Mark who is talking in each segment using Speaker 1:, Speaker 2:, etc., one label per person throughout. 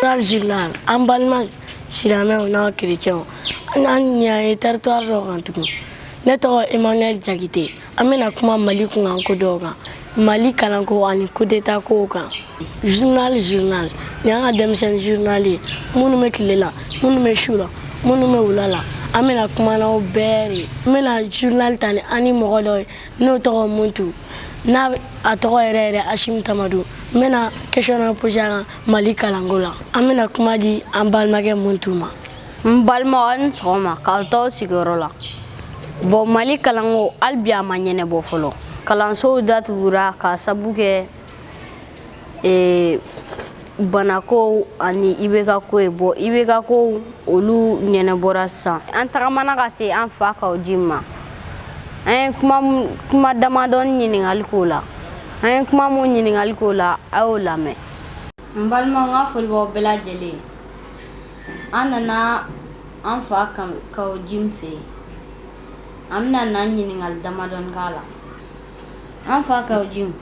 Speaker 1: An zlan an balima silamɛw n'aw kerecɛnw an ɲɛ ye territoire dɔ kan tugun ne tɔgɔ emmanuel jakite an bɛna kuma mali kunkan ko dɔw kan mali kalanko ani kudeta ko kan journal journal ni an ka denmisɛnnin journal ye minnu bɛ tile la minnu bɛ su la minnu bɛ wula la an bɛna kuma n'aw bɛɛ de n bɛna journal ta ni an ni mɔgɔ dɔ ye n'o tɔgɔ muntu n'a a tɔgɔ yɛrɛ yɛrɛ ashim tamadu n bɛna question dɔ posé a kan mali kalanko la an bɛna kuma di an balimakɛ muntu ma n balimaw a ni sɔgɔma k'aw to aw sigiyɔrɔ la bɔn mali kalanko hali bi a ma ɲɛnɛbɔ fɔlɔ kalansow datugura k'a sabu kɛ ee banakow ani IBK ko ye bɔn IBK kow olu ɲɛnɛbɔra sisan an tagamana ka se an fa kaw jim ma an ye kuma kuma damadɔni ɲininkali k'o la an ye kuma mun ɲininkali k'o la a y'o lamɛn n balimaw n ka foli b'aw bɛɛ lajɛlen an nana an fa kaw jim fɛ yen an bɛna na ɲininkali damadɔni k'a la An fa kaw jim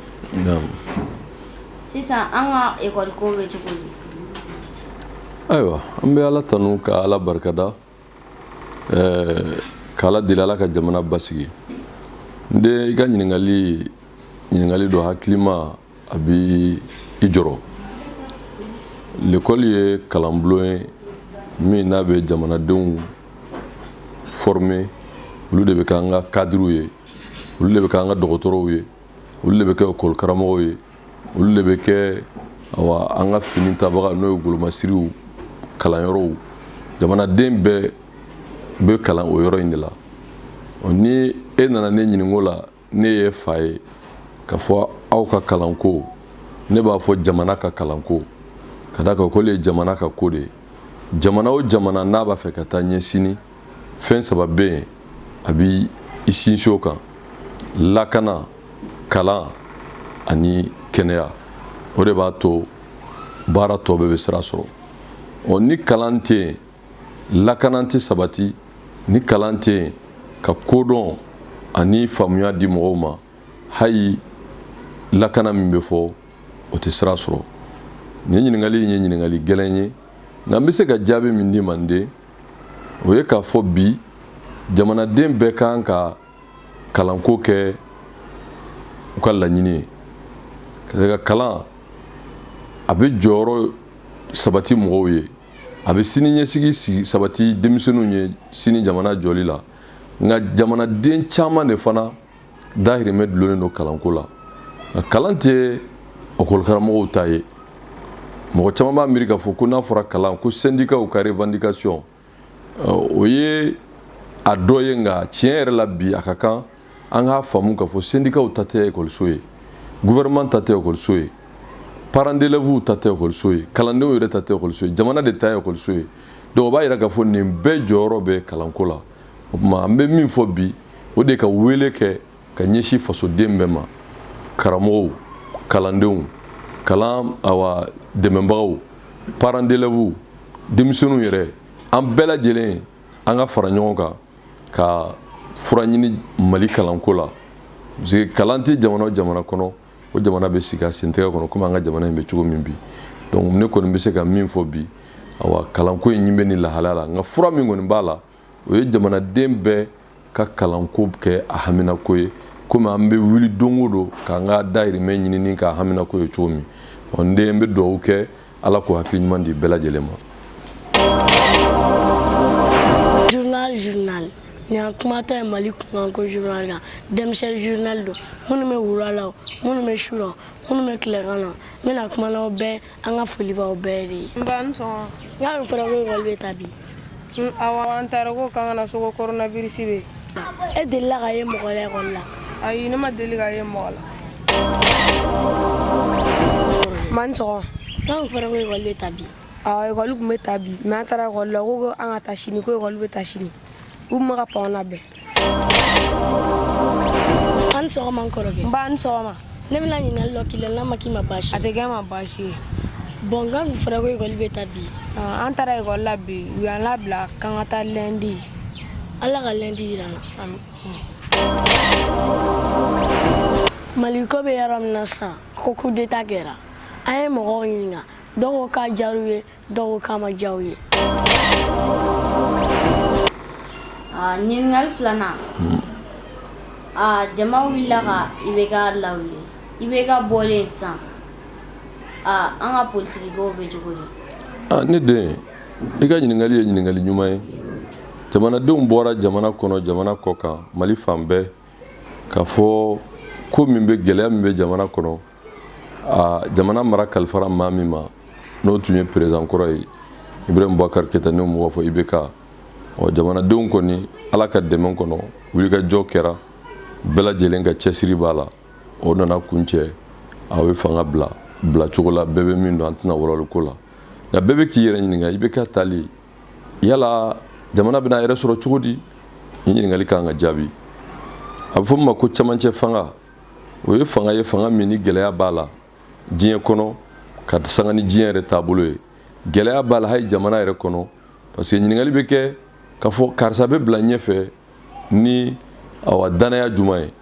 Speaker 1: sisan an ka ekɔli ko bɛ cogo di ayiwa an bɛ ala tanu ka ala barikada k' ala deli ala ka jamana basigi n den i ka ɲininkakali ɲininkakali don hakilima a bɛ i jɔrɔ lekɔli ye kalanbulon ye min n'a bɛ jamanadenw formé olu de bɛ kɛ an ka kadiriw ye olu de bɛ kɛ an ka dɔgɔtɔrɔw ye olu de bɛ kɛ ekɔli karamɔgɔw ye olu de bɛ kɛ an ka fini tabaga n'o ye golomasiriw kalanyɔrɔw jamanaden bɛɛ bɛ kalan o yɔrɔ in de la ni e nana ne ɲininka o la ne ye fa ye ka fɔ aw ka kalanko ne b'a fɔ jamana ka kalanko ka d'a kan o ye jamana ka ko de ye jamana o jamana n'a b'a fɛ ka taa ɲɛ sini fɛn saba bɛ yen a b'i sinsin o kan lakana kalan ani kɛnɛya o de b'a to baara tɔ bɛɛ bɛ sira sɔrɔ ɔ ni kalan tɛ yen lakana tɛ sabati ni kalan tɛ yen ka kodɔn ani faamuya di mɔgɔw ma hali lakana min bɛ fɔ o tɛ sira sɔrɔ nin ɲininkali in ye ɲininkali gɛlɛn ye nka n bɛ se ka jaabi min d'i ma n den o ye k'a fɔ bi jamanaden bɛɛ ka kan ka kalanko kɛ u ka laɲini ye ka ka kalan a bɛ jɔyɔrɔ sabati mɔgɔw ye a bɛ sini ɲɛsigi sabati denmisɛnninw ye sini jamana jɔli la nka jamanaden caman de fana dahirimɛ dulonnen don kalanko la nka kalan tɛ ekɔlikaramɔgɔw ta ye mɔgɔ caman b'a miiri k'a fɔ ko n'a fɔra kalan ko sɛndikaw ka revendication o ye a dɔ ye nka tiɲɛ yɛrɛ la bi a ka kan an k'a faamu k'a fɔ sɛndikaw ta tɛ ekɔliso ye gouvernement ta tɛ ekɔliso ye parents d'élèves ta tɛ ekɔliso ye kalandenw yɛrɛ ta tɛ ekɔliso ye jamana de ta ye ekɔliso ye donc o b'a jira k'a fɔ nin bɛɛ jɔyɔrɔ bɛ kalanko la o tuma an bɛ min fɔ bi o de ka wele kɛ ka ɲɛsin fasoden bɛɛ ma karamɔgɔw kalandenw kalan awa dɛmɛbagaw parents d'élèves denmisɛnninw yɛrɛ an bɛɛ lajɛlen an ka fara ɲɔgɔn kan ka fura ɲini mali kalanko la parce que kalan tɛ jamana o jamana kɔnɔ o jamana bɛ sigi a sentɛgɛ kɔnɔ komi an ka jamana in bɛ cogo min bi donc ne kɔni bɛ se ka min fɔ bi awa kalanko in nin bɛ nin lahalaya la nka fura min kɔni b'a la o ye jamanaden bɛɛ ka kalanko kɛ a haminako ye komi an bɛ wuli don o don k'an ka dahirimɛ ɲinini k'a haminako ye cogo min ɔ n den n bɛ dugawu kɛ ala k'o hakili ɲuman di bɛɛ lajɛlen ma journal journal nin an kumatɔ ye mali kunkanko journal kan denmisɛn journal don minnu bɛ wula la o minnu bɛ su la o minnu bɛ tilekan na n bɛna kuma n'aw bɛɛ an ka foli b'aw bɛɛ de ye n ba i ni sɔgɔma n k'a bɛ fɔra ko ekɔli bɛ taa bi An taara ko an ka na so ko coronavirus bɛ e delila k'a ye mɔgɔ la a ne ma deli k'a ye mɔgɔ la man sɔgɔma a fɔra ekɔli bɛ taa bi ekɔli tun bɛ taa bi n taara ekɔli la ko an ka taa sini k'ekɔli bɛ taa sini u ma ka pan bɛɛ an sɔgɔma n kɔrɔkɛ n ba i ni sɔgɔma ne bɛna ɲininkali dɔ k'i la n'a ma k'i ma baasi a tɛ kɛ n ma baasi ye bɔn n k'a kun fɔra ko ekɔli bɛ taa bi ah, an taara ekɔli la bi u y'an labila k'an ka taa lɛndi ala ka lɛndi yira an na maliko bɛ yɔrɔ min na sisan ko coup d'état kɛra an ye mɔgɔw ɲininka dɔw ko k'a diyar'u ye dɔw k'a ma diya u ye ɲininkali filanan jama wulila ka IBK lawuli IBK bɔlen san an ka politigibaw bɛ cogo di ne den i ka ɲininkali ye ɲininkali ɲuman ye jamanadenw bɔra jamana kɔnɔ jamana kɔ kan mali fan bɛɛ k'a fɔ ko min bɛ gɛlɛya min bɛ jamana kɔnɔ aa jamana mara kalifara maa min ma n'o tun ye perezidan kɔrɔ ye ibrahim bubakar keta n'an b'o fɔ ibk ɔ jamanadenw kɔni ala ka dɛmɛ kɔnɔ wulikajɔ kɛra bɛɛ lajɛlen ka cɛsiri b'a la o nana kun cɛ a ye fanga bila bila cogo la bɛɛ bɛ min dɔn an tɛna walawalali k'o la nka bɛɛ bɛ k'i yɛrɛ ɲininka i bɛ ka taali yala jamana bɛna yɛrɛ sɔrɔ cogo di nin ɲininkali kan ka jaabi a bɛ fɔ min ma ko camancɛ fanga o ye fanga ye fanga min ni gɛlɛya b'a la diɲɛ kɔnɔ k'a sanga ni diɲɛ yɛrɛ taabolo ye gɛlɛya b'a la hali jamana yɛrɛ kɔnɔ parce que ɲininkali bɛ kɛ ka fɔ karisa bɛ bila ɲɛfɛ ni awa dannaya juman ye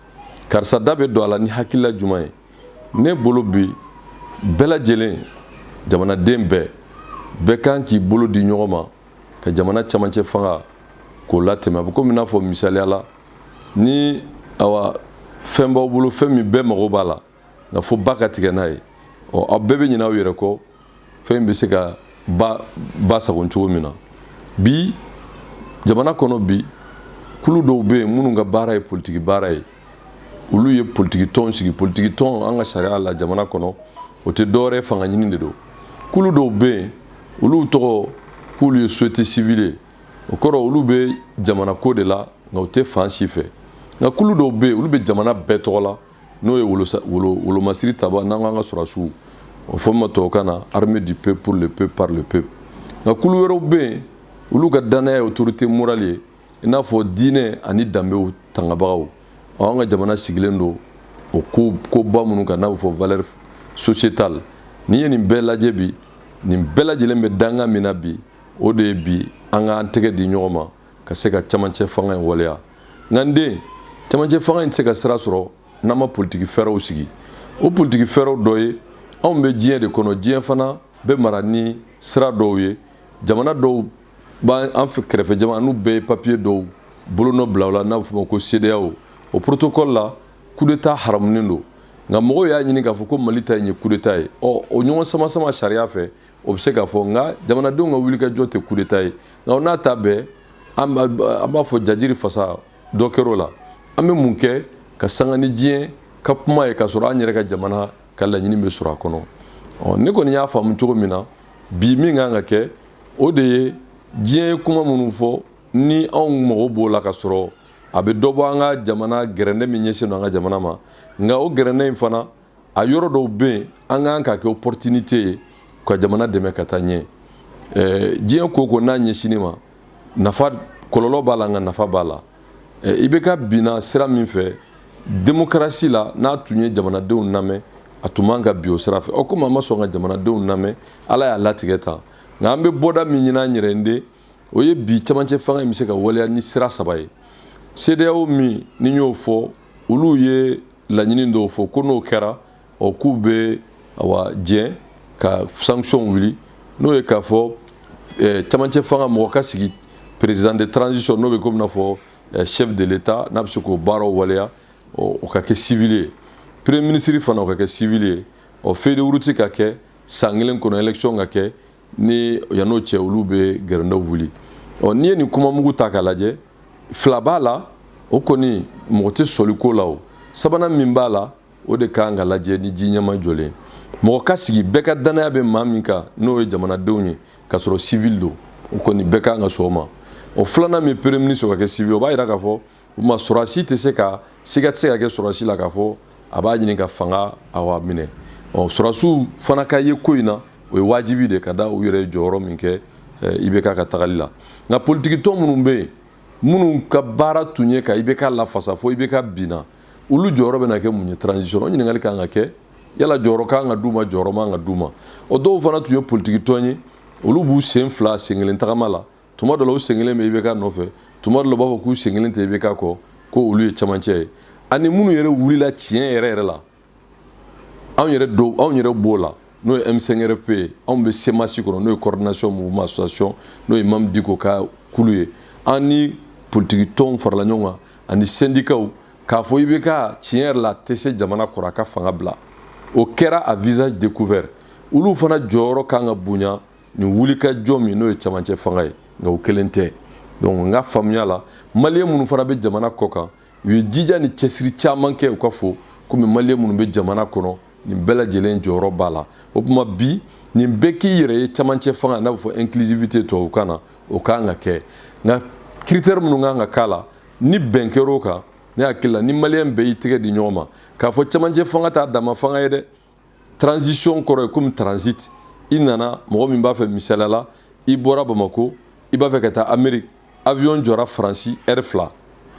Speaker 1: karisa da bɛ don a la ni hakilila juman ye ne bolo bi bɛɛ lajɛlen jamanaden bɛɛ bɛɛ kan k'i bolo di ɲɔgɔn ma ka jamana camancɛ fanga k'o latɛmɛ a bɛ komi n'a fɔ misaliya la ni awa fɛn b'aw bolo fɛn min bɛɛ mago b'a la nka fo ba ka tigɛ n'a ye ɔ aw bɛɛ bɛ ɲinɛ aw yɛrɛ kɔ fɛn in bɛ se ka ba ba sagon cogo min na bi jamana kɔnɔ bi kulu dɔw bɛ yen minnu ka baara ye politiki baara ye olu ye politiki tɔn sigi politiki tɔn an ka sariya la jamana kɔnɔ o tɛ dɔwɛrɛ fanga ɲini de don kulu dɔw bɛ yen olu tɔgɔ k'olu ye société civile ye o kɔrɔ olu bɛ jamana ko de la nka u tɛ fan si fɛ nka kulu dɔw bɛ yen olu bɛ jamana bɛɛ tɔgɔ la n'o ye wolomasiri tabaa n'an k'an ka sɔrɔsiw o fɔ ma tubabukan na armée du peuple pour le peuple par le peuple nka kulu wɛrɛw bɛ yen olu ka dannaya ye autorité morale ye i n'a fɔ diinɛ ani danbew tangabagaw an ka jamana sigilen don o ko koba minnu kan n'a bɛ fɔ valeur sociétale n'i ye nin bɛɛ lajɛ bi nin bɛɛ lajɛlen bɛ danga min na bi o de ye bi an k'an tɛgɛ di ɲɔgɔn ma ka se ka camancɛ fanga in waleya nka n den camancɛ fanga in tɛ se ka sira sɔrɔ n'an ma politiki fɛɛrɛw sigi o politiki fɛɛrɛw dɔ ye anw bɛ diɲɛ de kɔnɔ diɲɛ fana bɛ mara ni sira dɔw ye jamana dɔw b'an an fɛ kɛrɛfɛ jamana n'u bɛɛ ye papiye dɔw bolonɔ bila o la n'a bɛ f'o ma ko CEDEAO o protocole la coup d'état haramunen don nka mɔgɔw y'a ɲini k'a fɔ ko Mali ta in ye coup d'état ye ɔ o ɲɔgɔn sama sama sariya fɛ o bɛ se k'a fɔ nka jamanadenw ka wulikajɔ tɛ kudeta ye nka n'a ta bɛɛ an b'a fɔ jajiri fasa dɔ kɛr'o la an bɛ mun kɛ k'a sanga ni diɲɛ ka kuma ye k'a sɔrɔ an yɛrɛ ka jamana ka laɲini bɛ sɔrɔ a kɔnɔ ɔ ne kɔni y'a faamu cogo min na bi min kan ka kɛ o de ye diɲɛ ye kuma minnu fɔ ni anw mago b'o la k'a sɔrɔ a bɛ dɔ bɔ an ka jamana gɛrɛndɛ min ɲɛsin don an ka jamana ma nka o gɛrɛndɛ in fana a yɔrɔ dɔw bɛ yen an kan k'a kɛ opportunité ye ka jamana dɛmɛ ka taa ɲɛ ɛɛ diɲɛ ko ko n'a ɲɛsini ma nafa kɔlɔlɔ b'a la nka nafa b'a la IBK binna sira min fɛ démocratie la n'a tun ye jamanadenw lamɛn a tun man ka bin o sira fɛ ɔ komi a ma sɔn ka jamanadenw lamɛn ala y'a latigɛ tan nka an bɛ bɔda min ɲini an yɛrɛ de o ye bi camancɛ fanga in bɛ se ka waleya ni sira saba ye CEDEAO min ni n y'o fɔ olu ye laɲini dɔw fɔ ko n'o kɛra ɔ k'u bɛ awa diɲɛ ka sanction wuli n'o ye k'a fɔ eh, camancɛ fanga mɔgɔ ka sigi président de transition n'o bɛ komi n'a fɔ eh, chef de l'état n'a bɛ se k'o baaraw waleya ɔ o ka kɛ civil ye premier ministre fana o ka kɛ civil ye ɔ feuille de route ka kɛ san kelen kɔnɔ élection ka kɛ ni yan n'o cɛ olu bɛ gɛrɛndɛw wuli ɔ n'i ye nin kuma mugu ta k'a lajɛ fila b'a la o kɔni mɔgɔ tɛ sɔsɔli k'o la o sabanan min b'a la o de kan ka lajɛ ni ji ɲɛmajɔlen mɔgɔ ka sigi bɛɛ ka dannaya bɛ maa min kan n'o ye jamanadenw ye k'a sɔrɔ sivili don o kɔni bɛɛ kan ka sɔn o ma o filanan min premier ministre o ka kɛ sivili o b'a jira k'a fɔ o tuma sɔrɔdasi tɛ se ka siga tɛ se ka kɛ sɔrɔdasi la k'a fɔ a b'a ɲini ka fanga awa minɛ ɔ sɔrɔdasiw fana ka ye ko in na o ye wajibi de ka da u yɛrɛ jɔyɔrɔ min kɛ eh, ibk ka tagali la nka politikitɔn minnu bɛ yen minnu ka baara tun ye ka ibk lafasa fo ibk binna olu jɔyɔrɔ bɛna kɛ mun ye transition o ɲininkali ka kan ka kɛ yala jɔyɔrɔ ka kan ka d'u ma jɔyɔrɔ man ka d'u ma o dɔw fana tun ye politikitɔn ye olu b'u sen fila sen kelen tagama la tuma dɔ la u sen kelen bɛ IBK nɔfɛ tuma dɔ la u b'a fɔ k'u sen kelen tɛ IBK kɔ ko olu ye camancɛ ye ani minnu yɛrɛ wulila tiɲɛ yɛrɛ yɛrɛ la anw yɛrɛ do anw yɛrɛ b'o la n'o ye M5RFP ye anw bɛ CMAS kɔnɔ n'o ye coordination mouvement association n'o ye Imam Diko ka kulu ye an ni politiki tɔnw farala ɲɔgɔn kan ani sendikaw k'a fɔ IBK tiɲɛ yɛrɛ la tɛ se jamana kɔrɔ a ka fanga bila o kɛra à visage découvert olu fana jɔyɔrɔ kan ka bonya nin wulikajɔ min n'o ye camancɛ fanga ye nka o kelen tɛ donc n ka faamuya la maliyɛn minnu fana bɛ jamana kɔkan u ye jija ni cɛsiri caman kɛ u ka fo komi maliyɛn minnu bɛ jamana kɔnɔ nin bɛɛ lajɛlen jɔyɔrɔ b'a la o tuma bi nin bɛɛ k'i yɛrɛ ye camancɛ fanga n'a bɛ fɔ inclusivité tubabukan na o kan ka kɛ nka critère minnu kan ka k'a la ni bɛn kɛr'o kan ne hakili la ni maliyɛn bɛɛ y'i tɛgɛ di ɲɔgɔn ma k'a fɔ camancɛ fanga t'a dama fanga ye dɛ transition kɔrɔ ye komi transit i nana mɔgɔ min b'a fɛ misaliya la i bɔra bamako i b'a fɛ ka taa amérique avion jɔra faransi ɛri fila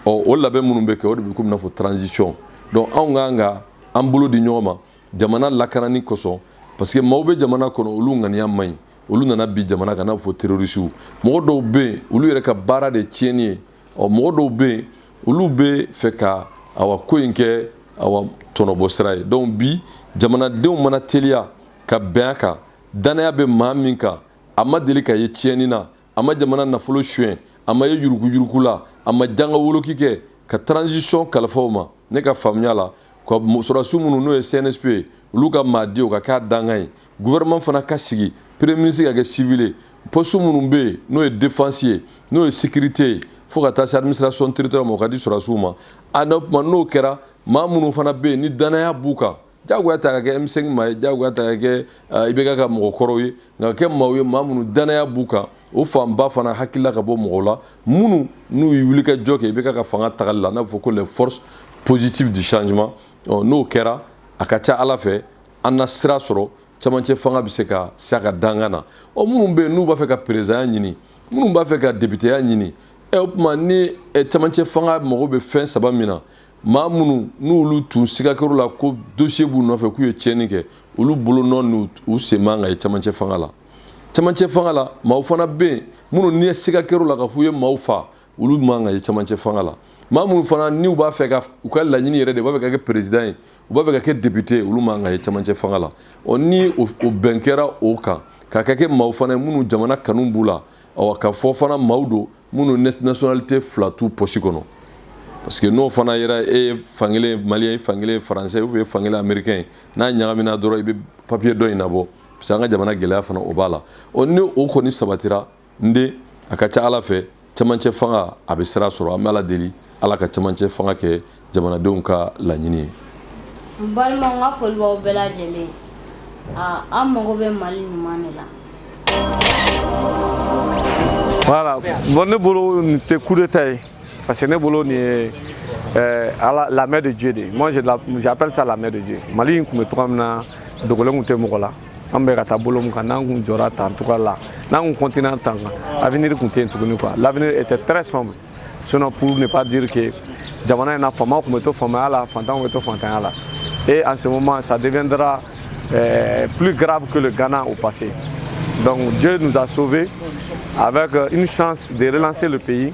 Speaker 1: ɔ o labɛn minnu bɛ kɛ o de bɛ komi n'a fɔ transition donc anw ka kan ka an bolo di ɲɔgɔn ma jamana lakanani kosɔn parce que maaw bɛ jamana kɔnɔ olu ŋaniya man ɲi olu nana bin jamana kan n'a fɔ terɔrisiw mɔgɔ dɔw bɛ yen olu yɛrɛ ka baara de tiɲɛni ye ɔ mɔgɔ dɔw bɛ yen olu b'a fɛ ka awa ko in kɛ awa tɔnɔbɔ sira ye donc bi jamanadenw mana teliya ka bɛn a kan dannaya bɛ maa min kan a ma deli ka ye tiɲɛni na a ma jamana nafolo suɲɛ a ma ye yuruguyurugu la a ma janga woloki kɛ ka transition kalifa o ma ne ka faamuya la ka sɔrɔdasiw minnu n'o ye CNSP ye olu ka maa di o ka k'a dankan ye gouvernement fana ka sigi premier ministre ka kɛ civil ye poste minnu bɛ yen n'o ye défense ye n'o ye sécurité ye fo ka taa se administration territoriale ma o ka di sɔrɔdasiw ma a n'o tuma n'o kɛra maa minnu fana bɛ yen ni danaya b'u kan jagoya t'a ka kɛ M5 maa ye jagoya t'a ka kɛ eh, IBK ka mɔgɔ kɔrɔw ye nka kɛ maaw ye maa minnu danaya b'u kan o fanba fana hakilila ka bɔ mɔgɔw la minnu n'u ye wulikajɔ kɛ IBK ka fanga tagali la n'a bɛ fɔ ko les forces positives du changement n'o kɛra a ka ca Ala fɛ an na sira sɔrɔ camancɛ fanga bɛ se ka s'a ka dankan na ɔ minnu bɛ yen n'u b'a fɛ ka perezidanya ɲini minnu b'a fɛ ka depiteya ɲini ɛ o tuma ni camancɛ fanga mago bɛ fɛn saba min na maa minnu n'olu tun siga kɛr'u la ko dosiye b'u nɔfɛ k'u ye tiɲɛni kɛ olu bolonɔ n'u sen man kan ka ye camancɛ fanga la camancɛ fanga la maaw fana bɛ yen minnu ni siga kɛr'u la ka f'u ye maaw fa olu man kan ka ye camancɛ fanga la maa minnu fana n'u b'a fɛ ka u ka laɲini yɛrɛ de b'a fɛ ka kɛ perezidan ye u b'a fɛ ka kɛ depite ye olu man kan ka ye camancɛ fanga la ɔ ni o bɛn kɛra o kan k'a ka kɛ maaw fana ye minnu jamana kanu b'u la awa ka fɔ fana maaw don minnu nationalité fila t'u pɔsi kɔnɔ parce que n'o fana yera e ye fankelen ye maliyɛn ye fankelen ye faransɛ ou bien fankelen américain ye n'a ɲagamina dɔrɔn i bɛ papier dɔ in nabɔ parce que an ka jamana gɛlɛya fana o b'a la ɔ ni o kɔni sabatira n den a ka ca ala fɛ cɛmancɛ fanga a bɛ sira sɔrɔ an bɛ ala deli ala ka cɛmancɛ fanga kɛ jamanadenw ka laɲini ye n balima n ka foli b'aw bɛɛ lajɛlen an mago bɛ mali ɲuman de la voilà bon ne bolo nin tɛ coup d'état ye parce que ne bolo nin ye euh, ala la main de dieu de moi j'appelle ça la main de dieu mali in tun bɛ cogoya min na dogolen tun tɛ mɔgɔ la an bɛ ka taa bolo min kan n'an kun jɔra tan cogoya la n'an kun continuer tan kan avenir kun tɛ yen tuguni quoi l'avenir était très sombre sinon pour ne pas dire que jamana in na faamaw kun bɛ to faamaya la fantanw bɛ to fantanya la et en ce moment ça deviendra euh, plus grave que le Ghana au passé donc Dieu nous a sauvés avec euh, une chance de relancer le pays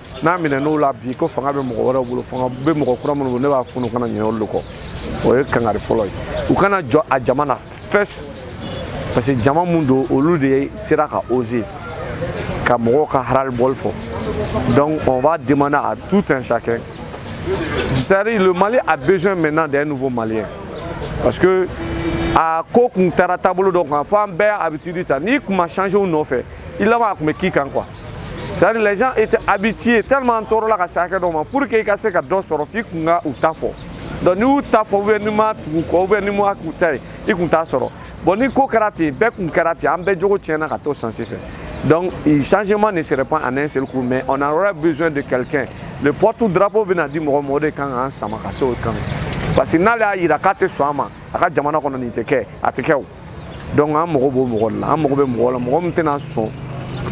Speaker 1: n'a minɛn'o la bi ko fanga bɛ mɔgɔ wɛrɛw bolo fanga bɛ mɔgɔ kura minnu bolo ne b'a fɔ u kana ɲinɛ olu de kɔ o ye kangari fɔlɔ ye u kana jɔn a jama na fɛs parce que jama min don olu de sera ka oser ka mɔgɔw ka ras-le-bol fɔ donc on va demander à tout un chacun c'est-à-dire le Mali a besoin maintenant d'un nouveau Malien parce que a ko kun taara taabolo dɔ kan fo an bɛɛ y'a habitude ta n'i kun ma changer u nɔfɛ i laban a kun bɛ k'i kan quoi c'est à dire les gens étaient habitués tellement tɔɔrɔ la ka se hakɛ dɔ ma pour que i ka se ka dɔ sɔrɔ f'i kun ka u ta fɔ donc n'i m'u ta fɔ ou bien n'i ma tugu u kɔ ou bien n'i ma k'u ta ye i kun t'a sɔrɔ bon ni ko kɛra ten bɛɛ kun kɛra ten an bɛɛ jogo tiɲɛna ka taa sens in fɛ donc changement ne serait pas en un seul coup mais on aura besoin de quelqu'un le porte drapeau bɛna di mɔgɔ ma o de kan k'an sama ka se o kan parce que n'ale y'a yira k'a tɛ sɔn a ma a ka jamana kɔnɔ nin tɛ kɛ a tɛ kɛ o donc an mago b'o mɔgɔ de la an mago bɛ mɔgɔ la mɔgɔ min tɛna sɔn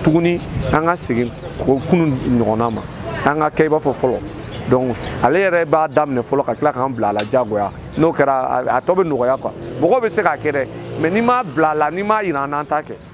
Speaker 1: tuguni an ka segin kɔ kunun ɲɔgɔnna ma an ka kɛ i b'a fɔ fɔlɔ donc ale yɛrɛ b'a daminɛ fɔlɔ ka tila k'an bila a la jagoya n'o kɛra a tɔ bɛ nɔgɔya quoi mɔgɔw bɛ se k'a kɛ dɛ mais n'i m'a bila a la n'i m'a yira an na an t'a kɛ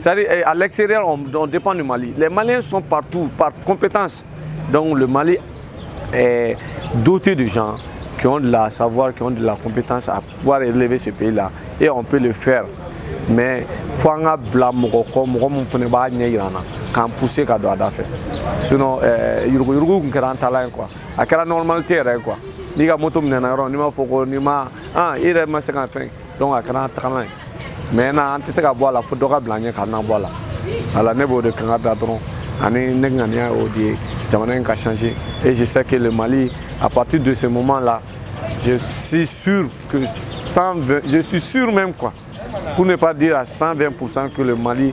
Speaker 1: C'est-à-dire, eh, à l'extérieur, on, on, dépend du Mali. Les Maliens sont partout, par compétence. Donc, le Mali est doté de gens qui ont de la savoir, qui ont de la compétence à pouvoir relever ce pays-là. Et on peut le faire. Mais faut an ka bila mɔgɔ kɔ mɔgɔ min fana b'a ɲɛ yira an na k'an pousser ka don a da fɛ sinon eh, yuruguyurugu tun kɛra an taalan ye quoi a kɛra normalité yɛrɛ ye quoi n'i ka moto minɛna yɔrɔ n'i m'a fɔ ko n'i ma an i yɛrɛ ma se ka fɛn donc a kɛra an taalan ye maintenant an tɛ se ka bɔ a la fo dɔ ka bila ɲɛ k'an labɔ a la voilà ne b'o de kanga da dɔrɔn ani ne ŋaniya y'o de ye jamana in ka changer et je sais que le mali à partir de ce moment là je suis sûr que je suis sûr même quoi pour ne pas dire à 120% que le mali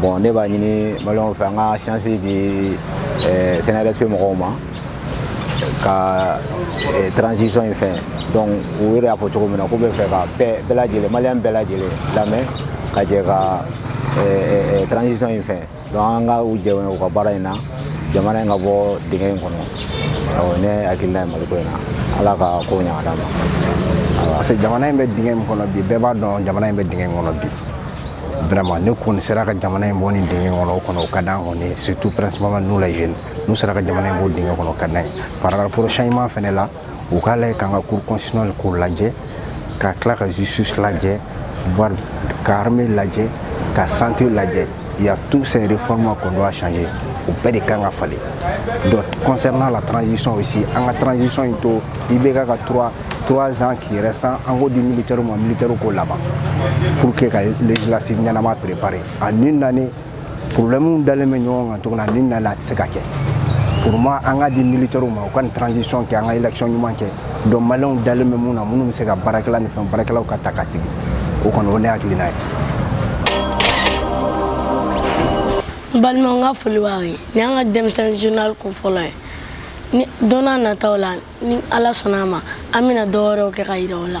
Speaker 1: bon ne b'a ɲini maliyɛnw fɛ an ka chance di CNSP mɔgɔw ma ka transition in fɛn donc u yɛrɛ y'a fɔ cogo min na k'u bɛ fɛ ka bɛɛ lajɛlen maliyɛn bɛɛ lajɛlen lamɛn ka jɛ ka transition in fɛn donc an ka u dɛmɛ u ka baara in na jamana in ka bɔ dingɛ in kɔnɔ awɔ ne hakilina ye maliko in na ala ka ko ɲa ka d'a ma parce que jamana in bɛ dingɛ min kɔnɔ bi bɛɛ b'a dɔn jamana in bɛ dingɛ in kɔnɔ bi vraiment n'u kɔni sera ka jamana in bɔ nin dingɛ kɔnɔ o kɔni o ka d'an kɔni surtout principalement nous les jeunes n'u sera ka jamana in bɔ dingɛ kɔnɔ o ka d'an ye par rapport au changement fɛnɛ la u k'a lajɛ k'an ka cour constitutionnelle k'o lajɛ ka tila ka justice lajɛ voire ka armée lajɛ ka santé lajɛ il y a tous ces réformes qu'on doit changer o bɛɛ de kan ka falen donc concernant la transition aussi an ka transition in to IBK ka trois trois ans qui restent an k'o di militaire ma militaire k'o laban pour que ka législative ɲɛnama préparer en une année problème dalen bɛ ɲɔgɔn kan cogo min na en un an a tɛ se ka kɛ pour moi an ka di militaire ma u ka nin transition kɛ an ka élection ɲuman kɛ donc maliyɛnw dalen bɛ minnu na minnu bɛ se ka baara kɛ ani fɛn baarakɛlaw ka ta ka sigi o kɔni o ne hakilina ye n balimaw n ka foli b'aw ye nin y'an ka denmisɛnnin journal kun fɔlɔ ye ni don n'a nataw la ni ala sɔnna a ma an bɛna dɔ wɛrɛw kɛ ka yira aw la